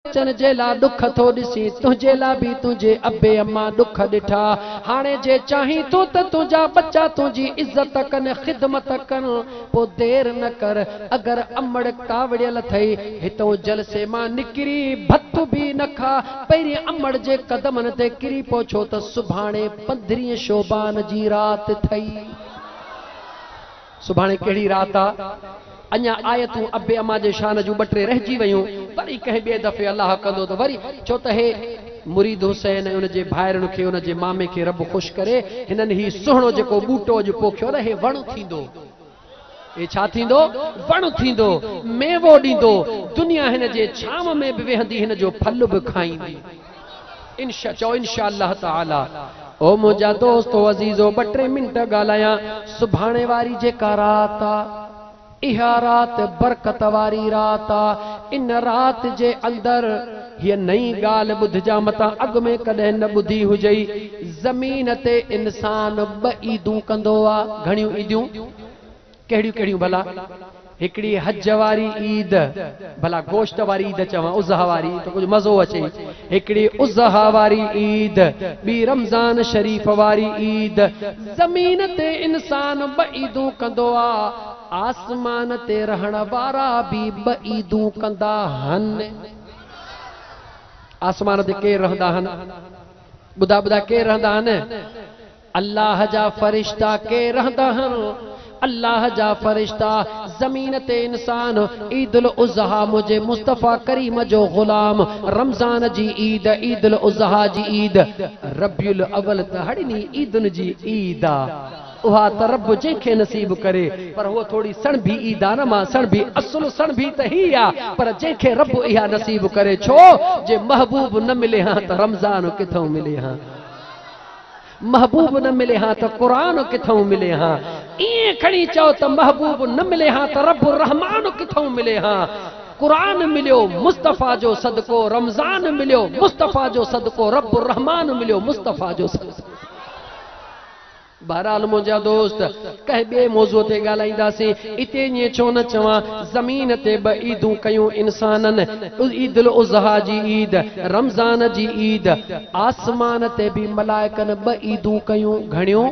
اچڻ جي لا ڏک ٿو ڏسين تنهنجي لا به تنهنجي ابي امان ڏک ڏٺا هاڻي جي چاهين ٿو ته تنهنجا ٻچا تنهنجي عزت ڪن خدمت ڪن پو دير نه ڪر اگر امڙ ڪاوڙيل ٿئي هتئون جلسي مان نڪري ڀت به نه کا پهرين امڙ جي قدمن تي ڪري پو ڇو ته سڀاڻي پندرهين شعبان جي رات ٿئي. سڀاڻي ڪهڙي رات آ؟ اڃا آيتون ابي اما جي شان جون ٻه ٽي رهجي ويون، وري ڪنهن ٻئي دفعي الله ڪندو ته وري، ڇو ته هي مريد حسين ۽ ان جي ڀائرن کي ان جي مامي کي رب خوش ڪري، هنن هي سهڻو جيڪو ٻوٽو اڄ پوکيو نه هي وڻ ٿيندو. هي ڇا ٿيندو؟ وڻ ٿيندو، ميوو ڏيندو، دنيا هن جي ڇانو ۾ به ويهندي هن جو ڦل به کائيندي. انشا چئو انشا الله تعالي او منهنجا دوستو عزيزو ٻه ٽي منٽ ڳالهايان سڀاڻي واري جيڪا رات آ اها رات برڪت واري رات آ ان رات جي اندر هيء نئين ڳالهه ٻڌجان متان اڳ ۾ ڪڏهن نه ٻڌي هجئي زمين تي انسان ٻه عيدون ڪندو آ گهڻيون عيديون ڪهڙيون ڪهڙيون ڀلا؟ هڪڙي حج واري عيد، ڀلا گوشت واري عيد چوان اضحيٰ واري ته ڪجهه مزو اچي، هڪڙي اضحيٰ واري عيد، ٻي رمضان شريف واري عيد، زمين تي انسان ٻه عيدون ڪندو آ، آسمان تي رهڻ وارا به ٻه عيدون ڪندا هن. آسمان تي ڪير رهندا هن؟ ٻڌاء ٻڌاء ڪير رهندا هن؟ الله جا فرشتا ڪي رهندا هن؟ الله جا فرشتا زمين تي انسان عيد الاضحيٰ منهنجي مصطفيٰ ڪريم جو غلام رمضان جي عيد عيد الاضحيٰ جي عيد ربيع الاول ته هڙني عيدن جي عيد آ اها ته رب جنهن کي نصيب ڪري پر هوء ٿوري سڻڀي عيد آ نه مان سڻڀي اصل سڻڀي ته هي آ پر جنهن کي رب اها نصيب ڪري ڇو جي محبوب نه ملي هان ته رمضان ڪٿئون ملي هان. محبوب نه ملي ها ته قرآن ڪٿئون ملي ها ائين کڻي چئو ته محبوب نه ملي ها ته رب الرحمان ڪٿئون ملي ها قرآن مليو مصطفيٰ جو صدقو رمضان مليو مصطفيٰ جو صدقو رب الرحمان مليو مصطفيٰ جو صدقو بهرحال منهنجا دوست ڪنهن ٻئي موضوع تي ڳالهائينداسين. اتي ائين ڇو نه چوان، زمين تي ٻه عيدون ڪيون انسانن، عيد الاضحيٰ جي عيد، رمضان جي عيد. آسمان تي به ملائڪن ٻه عيدون ڪيون، گهڻيون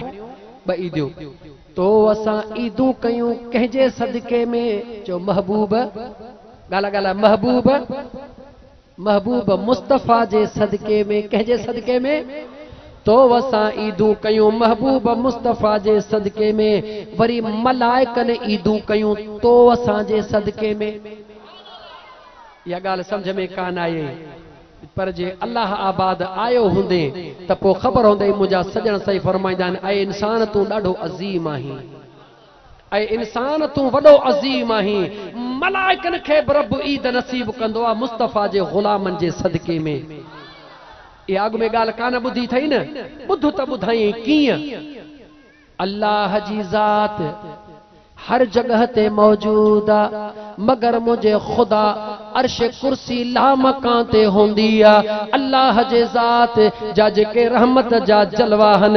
ٻه عيديون. تو اسان عيدون ڪيون ڪنهن جي صدقي ۾؟ چؤ محبوب! ڳالهاء ڳالهاء محبوب! محبوب مصطفيٰ جي صدقي ۾، ڪنهن جي صدقي ۾؟ تو وسان عيدون ڪيون محبوب مصطفيٰ جي صدقي ۾، وري ملائڪن عيدون ڪيون تو وسان جي صدقي ۾. اها ڳالهه سمجهه ۾ ڪانه آئي پر جي الله آباد آيو هوندين ته پوء خبر هوندئي منهنجا سڄڻ سائين فرمائيندا آهن اي انسان تون ڏاڍو عظيم آهين. اي انسان! تون وڏو عظيم آهين، ملائڪن کي به رب عيد نصيب ڪندو آهي مصطفيٰ جي غلامن جي صدقي ۾. اها اڳ ۾ ڳالهه ڪانه ٻڌي اٿئي نه، ٻڌ ته ٻڌايئين ڪيئن؟ الله جي ذات هر جڳهه تي موجود آ، مگر منهنجي خدا عرش ڪرسي لامڪان تي هوندي آ. الله جي ذات جا جيڪي رحمت جا جلوا آهن.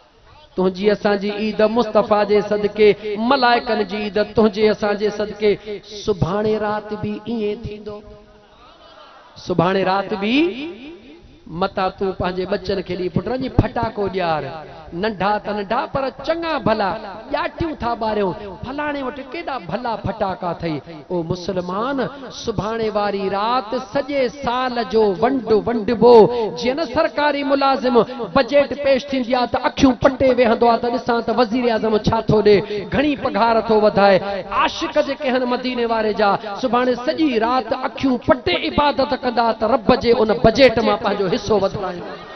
تنهنجي اسان جي عيد مصطفيٰ جي صدقي، ملائڪن جي عيد تنهنجي اسان جي صدقي، سڀاڻي رات به ائين ٿيندو، سڀاڻي رات به متان تون پنهنجي ٻچن کي ڏي پٽ وڃي ڦٽاڪو ڄار، ننڍا ته ننڍا پر چڱا ڀلا ڄاٽيون ٿا ٻاريون، فلاڻي وٽ ڪيڏا ڀلا ڦٽاڪا اٿئي. او مسلمان! سڀاڻي واري رات سڄي سال جو ونڊ ونڊبو، جيئن نه سرڪاري ملازم بجيٽ پيش ٿيندي آ ته اکيون پٽي ويهندو آ ته ڏسان ته وزيراعظم ڇا ٿو ڏي، گهڻي پگهار ٿو وڌائي. عاشق جيڪي هن مديني واري جا سڀاڻي سڄي رات اکيون پٽي عبادت ڪندا ته رب جي ان بجيٽ مان پنهنجو حصو وڌرائيندا.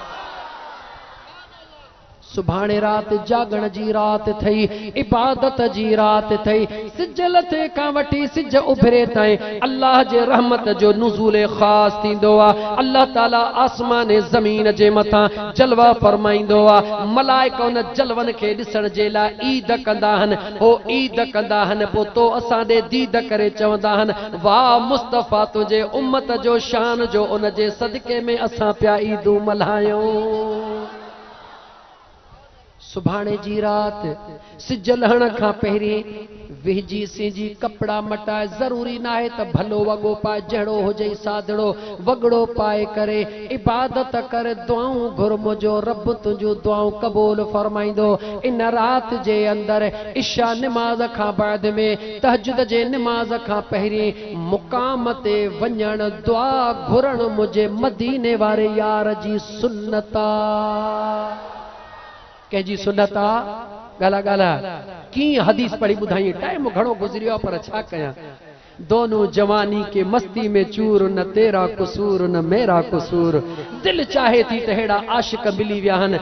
سڀاڻي رات جاڳڻ جي رات ٿئي، عبادت جي رات ٿئي، سج لٿي کان وٺي سج اڀري تائين الله جي رحمت جو نزول خاص ٿيندو آ، الله تعالي آسمان ۽ زمين جي مٿان جلوا فرمائيندو آ، ملائڪ ان جلون کي ڏسڻ جي لاء عيد ڪندا ھن، ھو عيد ڪندا ھن پوء تو اسان ڏي ديد ڪري چوندا ھن، واھ مصطفيٰ تنھنجي امت جو شان جو ان جي صدقي ۾ اسان پيا عيدون ملھايون. سڀاڻي جي رات سج لهڻ کان پهرين ويهجي سينجي ڪپڙا مٽاء ضروري ناهي ته ڀلو وڳو پاء جهڙو هجئي سادڙو وڳڙو پاء ڪري عبادت ڪر دعائون گهر منهنجو رب تنهنجون دعائون قبول فرمائيندو ان رات جي اندر عشاء نماز کان بعد ۾ تهجد جي نماز کان پهرين مقام تي وڃڻ دعا گهرڻ منهنجي مديني واري يار جي سنت آ ڪنهن جي سنت آ ڳالهه ڳالهه ڪيئن حديث پڙهي ٻڌائين ٽائيم گهڻو گذريو آ پر ڇا ڪيان دونون جواني ڪي مستي ۾ چور نه تيرا قصور نه ميرا قصور دل چاهي ٿي ته ههڙا عاشق ملي ويا هن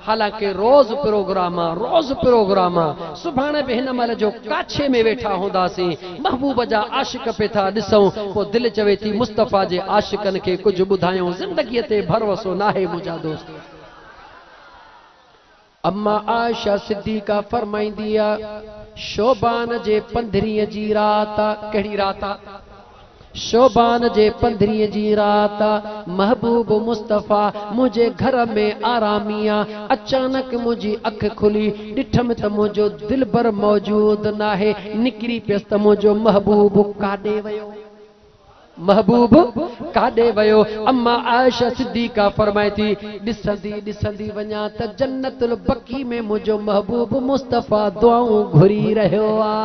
حالانڪه روز پروگرام آ روز پروگرام آ سڀاڻي به هن مهل جو ڪاڇي ۾ ويٺا هونداسين محبوب جا عاشق پي ٿا ڏسون پو دل چوي ٿي مصطفيٰ جي عاشقن کي ڪجهه ٻڌايون زندگي تي ڀروسو ناهي منهنجا دوست اما عائشه صديقه فرمائيندي آ شعبان جي پندرهين جي رات آ ڪهڙي رات آ؟ شعبان جي پندرهين جي رات محبوب مصطفيٰ منهنجي گهر ۾ آرامي آ، اچانڪ منهنجي اک کلي، ڏٺم ته منهنجو دلبر موجود ناهي، نڪري پيس ته منهنجو محبوب ڪاڏي ويو؟ محبوب ڪاڏي ويو؟ اما عائشه صديقه فرمائي ٿي، ڏسندي ڏسندي وڃان ته جنت البقيع ۾ منهنجو محبوب مصطفيٰ دعائون گهري رهيو آ.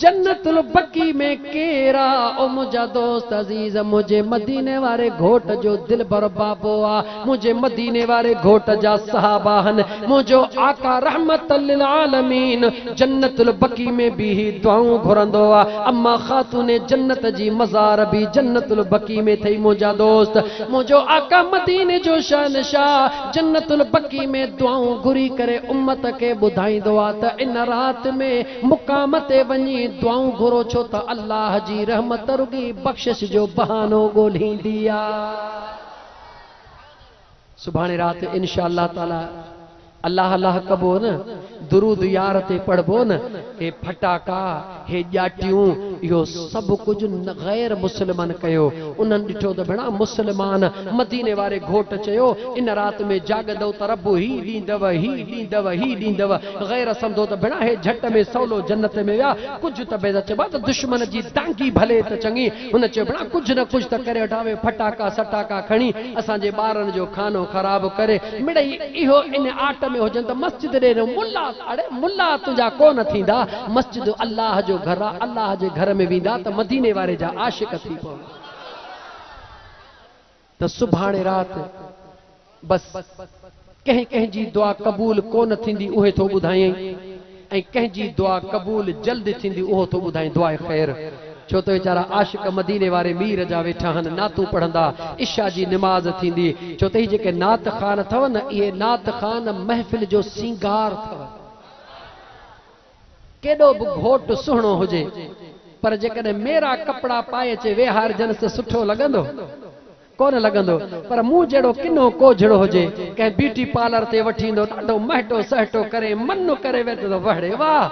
جنت البقيع ۾ ڪير آ؟ او منهنجا دوست عزيز منهنجي مديني واري گهوٽ جو دلبر بابو آ، منهنجي مديني واري گهوٽ جا صحابه هن، منهنجو آقا رحمت للعالمين جنت البقيع ۾ بيهي دعائون گهرندو آ، اما خاتون جنت جي مزار به جنت البقيع ۾ ٿئي منهنجا دوست منهنجو آقا مديني جو شهنشاهه جنت البقيع ۾ دعائون گهري ڪري امت کي ٻڌائيندو آ ته ان رات ۾ مقام تي وڃي دعائون گهرو ڇو ته الله جي رحمت رڳي بخشش جو بهانو ڳولهيندي آ. سڀاڻي رات انشاء الله تعالي الله الله ڪبو نه درود يار تي پڙهبو نه هي ڦٽاڪا هي ڄاٽيون اهو سڀ ڪجهه غير مسلمن ڪيو انهن ڏٺو ته ڀيڻا مسلمان مديني واري گهوٽ چيو ان رات ۾ جاڳندؤ ته رب هي ڏيندؤ هي ڏيندؤ هي ڏيندؤ غير سمجهو ته بڻاهي جهٽ ۾ سولو جنت ۾ ويا ڪجهه ته بيضا چئبو آهي ته دشمن جي دانگي ڀلي ته چڱي هن چئبو آهي ڪجهه نه ڪجهه ته ڪري وٺان اهي ڦٽاڪا سٽاڪا کڻي اسان جي ٻارن جو خانو خراب ڪري مڙئي اهو ان آٽ ۾ هجن ته مسجد ڏي نه ملا اڙي ملا تنهنجا ڪونه ٿيندا مسجد الله جو گهر آهي الله جي گهر ۾ ويندا ته مديني واري جا عاشق ٿي پوندا. ته سڀاڻي رات بس ڪنهن ڪنهن جي دعا قبول ڪونه ٿيندي اهي ٿو ٻڌائين ۽ ڪنهن جي دعا قبول جلد ٿيندي اهو ٿو ٻڌائين دعاء خير ڇو ته ويچارا عاشق مديني واري مير جا ويٺا آهن نعتون پڙهندا عشاء جي نماز ٿيندي ڇو ته هي جيڪي نعت خوان اٿو نه اهي نعت خوان محفل جو سينگار اٿو. ڪيڏو به گهوٽ سهڻو هجي پر جيڪڏهن ميرا ڪپڙا پائي اچي ويهارجنس ته سٺو لڳندو؟ ڪونه لڳندو. پر مون جهڙو ڪنو ڪوجهڙو هجي، ڪنهن بيوٽي پارلر تي وٺي ايندو، ڏاڍو مهٽو سهٽو ڪري منّ ڪري ويهه ته وڙي واهه!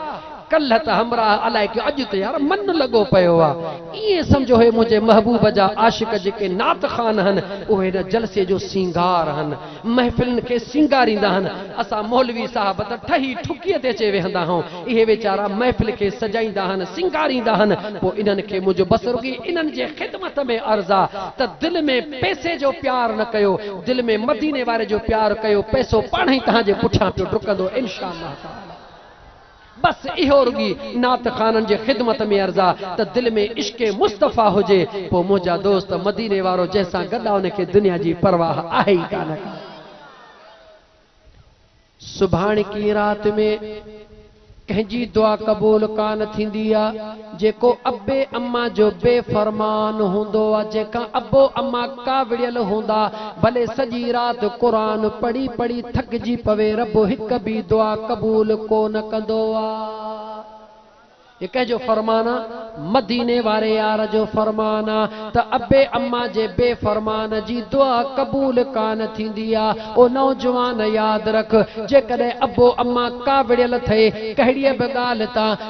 ڪلهه ته همراهه الائي ڪيو اڄ ته يار منّ لڳو پيو آ. ائين سمجهو هي منهنجي محبوب جا عاشق جيڪي نعت خوان هن، اهي هن جلسي جو سينگار هن. محفلن کي سينگاريندا هن. اسان مولوي صاحب ته ٺهي ٺڪيء تي اچي ويهندا هئون. اهي ويچارا محفل کي سجائيندا هن، سينگاريندا هن. پوء انهن کي منهنجو بس رڳي انهن جي خدمت ۾ عرض آ ته دل ۾ پئسي جو پيار نه ڪيو، دل ۾ مديني واري جو پيار ڪيو، پئسو پاڻهئي توهان جي پٺيان پيو ڊڪندو، انشاء الله تعاليٰ. بس اهو رڳي نعت خوانن جي خدمت ۾ عرض آ ته دل ۾ عشق مصطفيٰ هجي پوء منهنجا دوست مديني وارو جنهن سان گڏ آ ان کي دنيا جي پرواهه آهي ئي ڪانه ڪا. سڀاڻڪي رات ۾ ڪنهن جي دعا قبول ڪانه ٿيندي آ. جيڪو ابي اما جو بي فرمان هوندو آ جيڪا ابو اما ڪاوڙيل هوندا ڀلي سڄي رات قرآن پڙهي پڙهي ٿڪجي پوي رب هڪ بي دعا قبول ڪونه ڪندو آ هي ڪنهن جو فرمان آ مديني واري يار جو فرمان آ ته ابي اما جي بي فرمان جي دعا قبول ڪانه ٿيندي آ او نوجوان ياد رک جيڪڏهن ابو اما ڪاوڙيل ٿئي ڪهڙيء به ڳالهه تان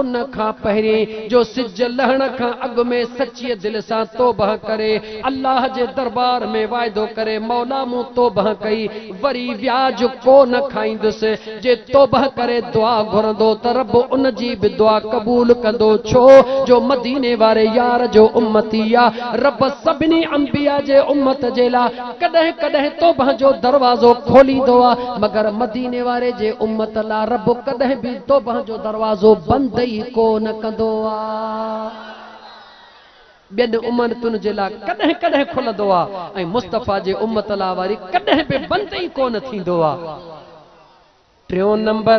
ان کان پهرين جو سج لهڻ کان اڳ ۾ سچيء دل سان توبهه ڪري، الله جي دربار ۾ واعدو ڪري، مولا مون توبهه ڪئي، وري وياج ڪو نه کائيندس. جي توبهه ڪري دعا گهرندو ته رب ان جي به دعا قبول ڪندو، ڇو جو مديني واري يار جو امتي آ. رب سڀني انبياء جي امت جي لا. ڪڏهن ڪڏهن توبهه جو دروازو کوليندو آ مگر مديني واري جي امت لا رب ڪڏهن به توبهه جو دروازو بند ئي ڪو نه ڪندو آ ٻين امنتن جي لا ڪڏهن ڪڏهن کلندو آ ۽ مصطفيٰ جي امت لا وري ڪڏهن به بند ئي ڪو نه ٿيندو آ ٽيون نمبر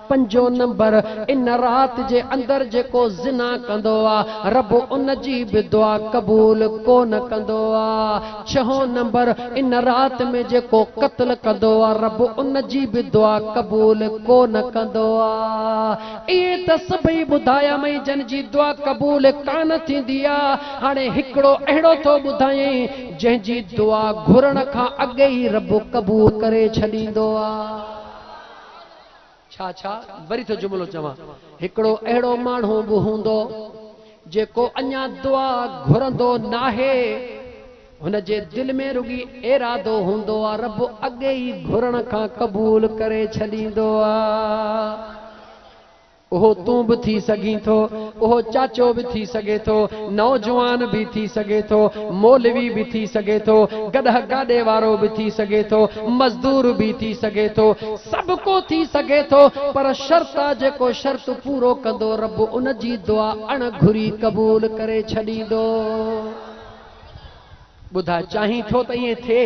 پنجو نمبر، ان رات جي اندر جيڪو زنا ڪندو آ، رب ان جي به دعا قبول ڪو نه ڪندو آ. ڇهون نمبر، ان رات ۾ جيڪو قتل ڪندو آ، رب ان جي به دعا قبول ڪو نه ڪندو آ. اهي ته سڀئي ٻڌايامئين جن جي دعا قبول ڪانه ٿيندي آ. هاڻي هڪڙو اهڙو ٿو ٻڌايئين جنهن جي دعا گهرڻ کان اڳ ئي رب قبول ڪري ڇڏيندو آ. ڇا ڇا؟ وري ٿو جملو چوان. هڪڙو اهڙو ماڻهو به هوندو، جيڪو اڃا دعا گهرندو ناهي، هن جي دل ۾ رڳي ارادو هوندو آ، رب اڳي ئي گهرڻ کان قبول ڪري ڇڏيندو آ. اهو تون به ٿي سگهين ٿو، اهو چاچو به ٿي سگهي ٿو، نوجوان به ٿي سگهي ٿو، مولوي به ٿي سگهي ٿو، گڏهه گاڏي وارو به ٿي سگهي ٿو، مزدور به ٿي سگهي ٿو، سڀ ڪو ٿي سگهي ٿو پر شرط آ جيڪو شرط پورو ڪندو رب ان جي دعا اڻ گهري قبول ڪري ڇڏيندو. ٻڌاء چاهين ٿو ته ائين ٿئي؟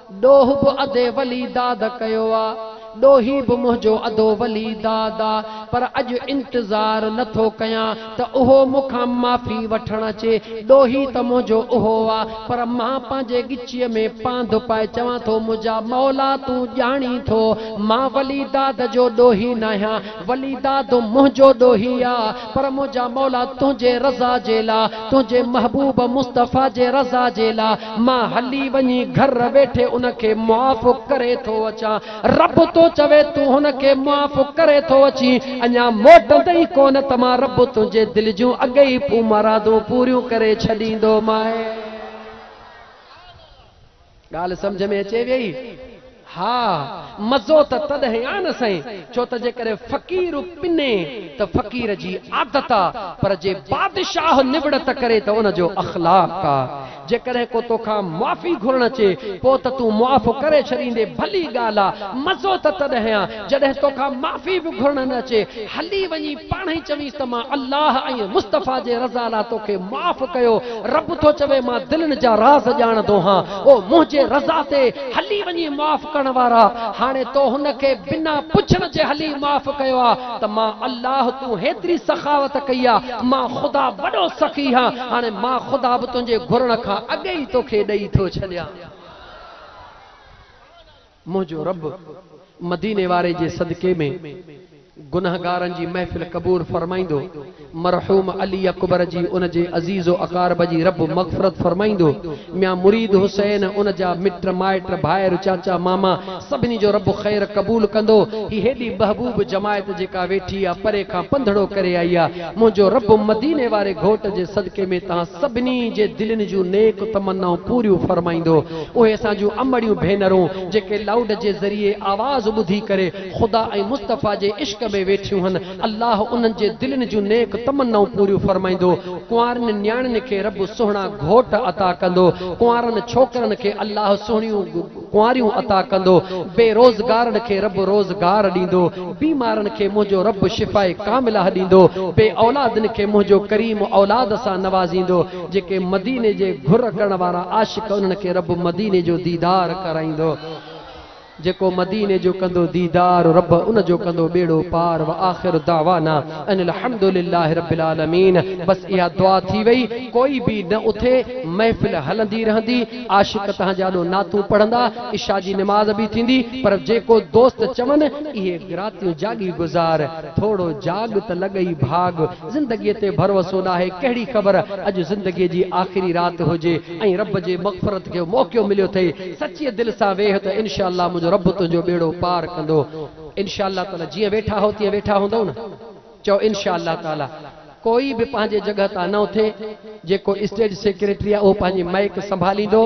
ڏوهه به ادي ولي داد ڪيو آ. ڏوهي به منهنجو ادو ولي داد آ. پر اڄ انتظار نه ٿو ڪيان ته اهو مون کان معافي وٺڻ اچي. ڏوهي ته منهنجو اهو آ. پر مان پنهنجي ڳچيء ۾ پانڌ پائي چوان ٿو منهنجا مولا تون ڄاڻين ٿو مان ولي داد جو ڏوهي ناهيان. ولي داد منهنجو ڏوهي آ. پر منهنجا مولا تنهنجي رضا جي لا، تنهنجي محبوب مصطفيٰ جي رضا جي لا، مان هلي وڃي گهر ويٺي ان کي معاف ڪري ٿو اچان. رب تو چوي تون هن کي معاف ڪري ٿو اچين، اڃا موٽندين ئي ڪونه ته مان رب تنهنجي دل جون اڳي ئي پون مرادون پوريون ڪري ڇڏيندومانء. ڳالهه سمجهه ۾ اچي ويئي؟ ها، مزو ته تڏهن آ نه سائين، ڇو ته جيڪڏهن فقير پني ته فقير جي عادت آ، پر جي بادشاهه نوڙت ڪري ته ان جو اخلاق آ. جيڪڏهن ڪو توکان معافي گهرڻ اچي، پوء ته تون معاف ڪري ڇڏيندين، ڀلي ڳالهه آ، مزو ته تڏهن آ، جڏهن توکان معافي به گهرڻ نه اچي، هلي وڃي پاڻ ئي چوينس ته مان الله ۽ مصطفيٰ جي رضا لا توکي معاف ڪيو، رب ٿو چوي مان دلين جا راز ڄاڻندو هان، او منهنجي رضا تي هلي وڃي معاف ڪرڻ وارا، هاڻي تو هن کي بنا پڇڻ جي هلي معاف ڪيو آ ته مان الله تون هيتري سخاوت ڪئي آ، مان خدا وڏو سخي هان، هاڻي مان خدا به تنهنجي گهرڻ کان اڳ ئي توکي ڏئي ٿو ڇڏيان. منهنجو رب مديني واري جي صدقي ۾ گنهگارن جي محفل قبول فرمائيندو، مرحوم علي اڪبر جي ان جي عزيز و اقارب جي رب مغفرت فرمائيندو، ميان مريد حسين، ان جا مٽ مائٽ، ڀائر، چاچا، ماما، سڀني جو رب خير قبول ڪندو، هي هيڏي محبوب جماعت جيڪا ويٺي آ، پري کان پنڌڙو ڪري آئي آ، منهنجو رب مديني واري گهوٽ جي صدقي ۾ توهان سڀني جي دلين جون نيڪ تمنائون پوريون فرمائيندو، اهي اسان جون امڙيون ڀينرون جيڪي لائوڊ جي ذريعي آواز ٻڌي ڪري خدا ۽ مصطفيٰ جي عشق ۾ ويٺيون هن الله انهن جي دلين جون نيڪ تمنائون پوريون فرمائيندو ڪنوارين نياڻين کي رب سهڻا گهوٽ عطا ڪندو ڪنوارن ڇوڪرن کي الله سهڻيون ڪنواريون عطا ڪندو بي روزگارن کي رب روزگار ڏيندو بيمارن کي منهنجو رب شفاء ڪامله ڏيندو بي اولادن کي منهنجو ڪريم اولاد سان نوازيندو جيڪي مديني جي گهر ڪرڻ وارا عاشق انهن کي رب مديني جو ديدار ڪرائيندو جيڪو مديني جو ڪندو ديدار رب ان جو ڪندو ٻيڙو پار واخر دعوانا ان الحمد لله رب العالمين بس اها دعا ٿي وئي ڪوئي به نه اٿي محفل هلندي رهندي عاشق تهان جا اڏو نعتون پڙهندا عشاء جي نماز به ٿيندي پر جيڪو دوست چون اهي گراتيون جاڳي گذار ٿوڙو جاڳ ته لڳئي ڀاڳ زندگيء تي ڀروسو ناهي، ڪهڙي خبر اڄ زندگيء جي آخري رات هجي ۽ رب جي مغفرت جو موقعو مليو اٿئي، سچيء دل سان ويهه ته انشاء الله منهنجو رب تنهنجو ٻيڙو پار ڪندو. انشاء الله تعاليٰ جيئن ويٺا هئو تيئن ويٺا هوندئو نه؟ چئو انشاء الله تعاليٰ. ڪوئي به پنهنجي جڳهه تان نه اٿي. جيڪو اسٽيج سيڪريٽري آ اهو پنهنجي مئڪ سنڀاليندو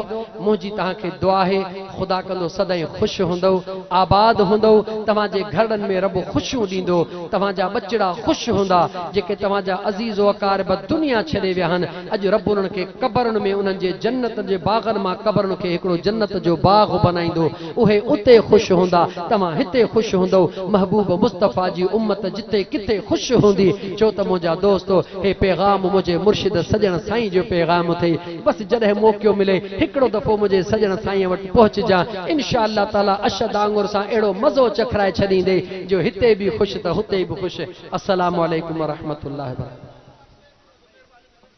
منهنجي توهان کي دعا آهي خدا ڪندو سدائين خوش هوندؤ آباد هوندؤ توهان جي گهرڙن ۾ رب خوشيون ڏيندو توهان جا ٻچڙا خوش هوندا جيڪي توهان جا عزيز واقارب دنيا ڇڏي ويا آهن اڄ رب انهن کي قبرن ۾ انهن جي جنت جي باغن مان قبرن کي هڪڙو جنت جو باغ بنائيندو اهي اتي خوش هوندا، توهان هتي خوش هوندؤ، محبوب مصطفيٰ جي امت جتي ڪٿي خوش هوندي، ڇو ته منهنجا دوستو، هي پيغام منهنجي مرشد سڄڻ سائين جو پيغام اٿئي، بس جڏهن موقعو ملئي، هڪڙو دفعو منهنجي سڄڻ سائينء وٽ پهچجان، انشاء الله تعاليٰ اشهد آڱر سان اهڙو مزو چکرائي ڇڏيندئي، جو هتي به خوش ته هتي به خوش. السلام عليڪم ورحمة الله وبرڪاته.